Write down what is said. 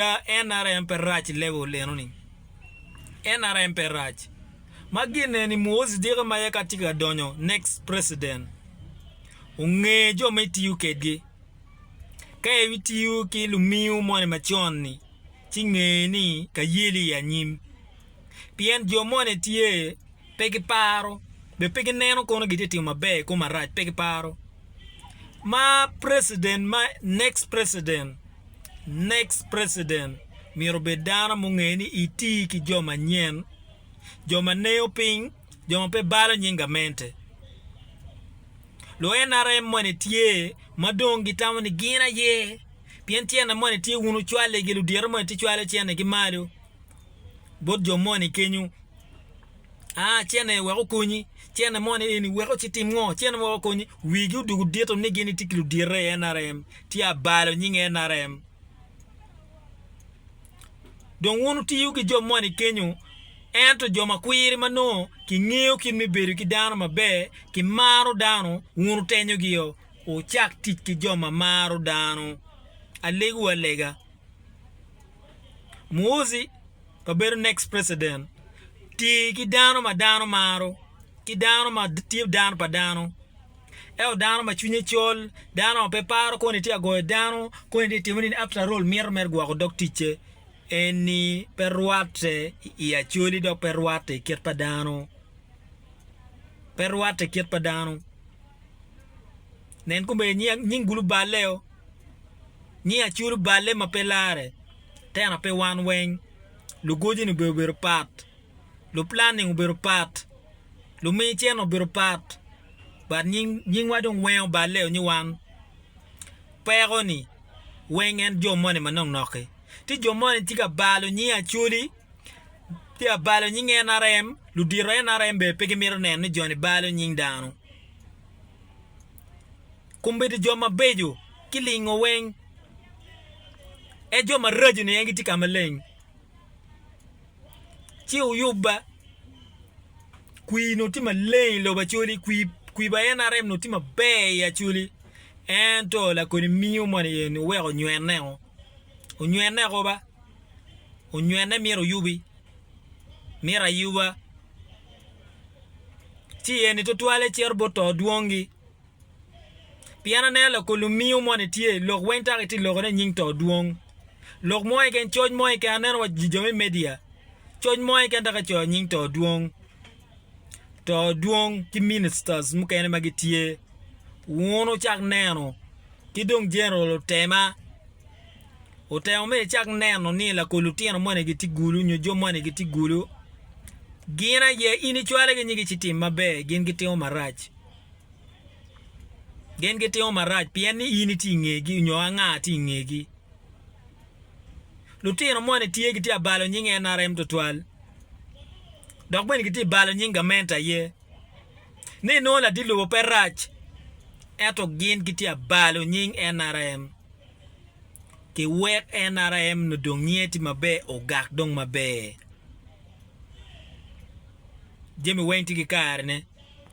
Lega nrm pe rac lega oleno ni nrm pe rac ma gine ni muozi diki ma aye ka tye ka donyo next president onge jo ma itiyo kedgi ka itiyo ki lumiu moni macon ni ci nge ni ka yeli i anyim pien jo moni tye pe ki paro be pe gineno kono gitye ka timo maber ikome arac pe ki paro ma president ma next president Next President myero obed dano munge ni iti ki jo manyen, jo ma neyo piny, jo ma pe balo nying gamente. Lu nrm moni tye ma dong gitamo ni gin aye pien tyene moni tye wun wucwaligi, ludito moni tye cwalo tyene gi malo. bot jo moni kenyo, aa cene wek okonyi, cene moni eni wek oci tim ngo, cene moni wek okonyi, wigi odwogo dito ni gin gitye ki ludito i nrm, tye abalo nying nrm. Dong wun wutiyo ki jo moni kenyo, ento jo ma kwiri ma nongo kingeyo kit me bedo ki dano maber, kimaro dano, wun wutenyogio, wucak tic ki jo ma maro dano. Alegowa alega. Muozi pa bedo next president tye ki dano ma dano maro ki dano ma tye dano pa dano ento dano ma cwinye col dano ma pe paro koni tye ka goyo dano koni tye ka timo nini after all mito mere gwoko dog ticce eni pe rwatte i acoli dok pe rwatte i kit pa dano pe rwatte i kit pa dano nen komedo nying guluballeo. ni aculo balle ma pe larre tena pe wan weng lugoji ni bene obedo pat lu planning obedo pat lumi cene obedo pat but nyingwa dong wengo balle o nyo wan peko ni weng en jo moni ma nok nok-ki ci jo moni tye ka balo nying acholi tye ka balo nying nrm ludito nrm bene pe gimito neno ni joni balo nying dano Kombedo jo mabeco kilingo weng, ento jo maraco-ni en gitye ka maleng. Ci wuyubba, kwir onongo tye maleng i lobo Acholi, kwir pa NRM onongo tye maber i Acholi, ento lakoni miyo moni eni oweko onywene-o, onywene oko ba, onywene myero oyubi, myero ayuba, ci eni tutwalle cito bot to dwongi. Pien aneno loko lumingo moni tye i lok weng dok itye ka lokone i nying to dwong. Lok mo keken, coc mo keken, aneno wa jo me media, coc mo keken dok kicoyo nying to dwong. To dwong ki ministers mukene ma gitye. Wun wucak neno ki dong General Otema otemo me icak neno ni lako lutino moni gitye gulu nyo jo moni gitye gulu. Gin aye in icwale ki nyigi ci tim maber gin gitimo marac. Gin gitimo marac pien ni in itye i ngegi onyo anga tye i ngegi. Lutino moni tye gitye ka balo nying NRM tutwal dok bene gitye ka balo nying gament aye ni inongo ladit lobo pe rac ento gin gitye ka balo nying NRM ki wek NRM nongo dong nyinge tye maber ogak dong maber. Jami weng tye ki kare ne.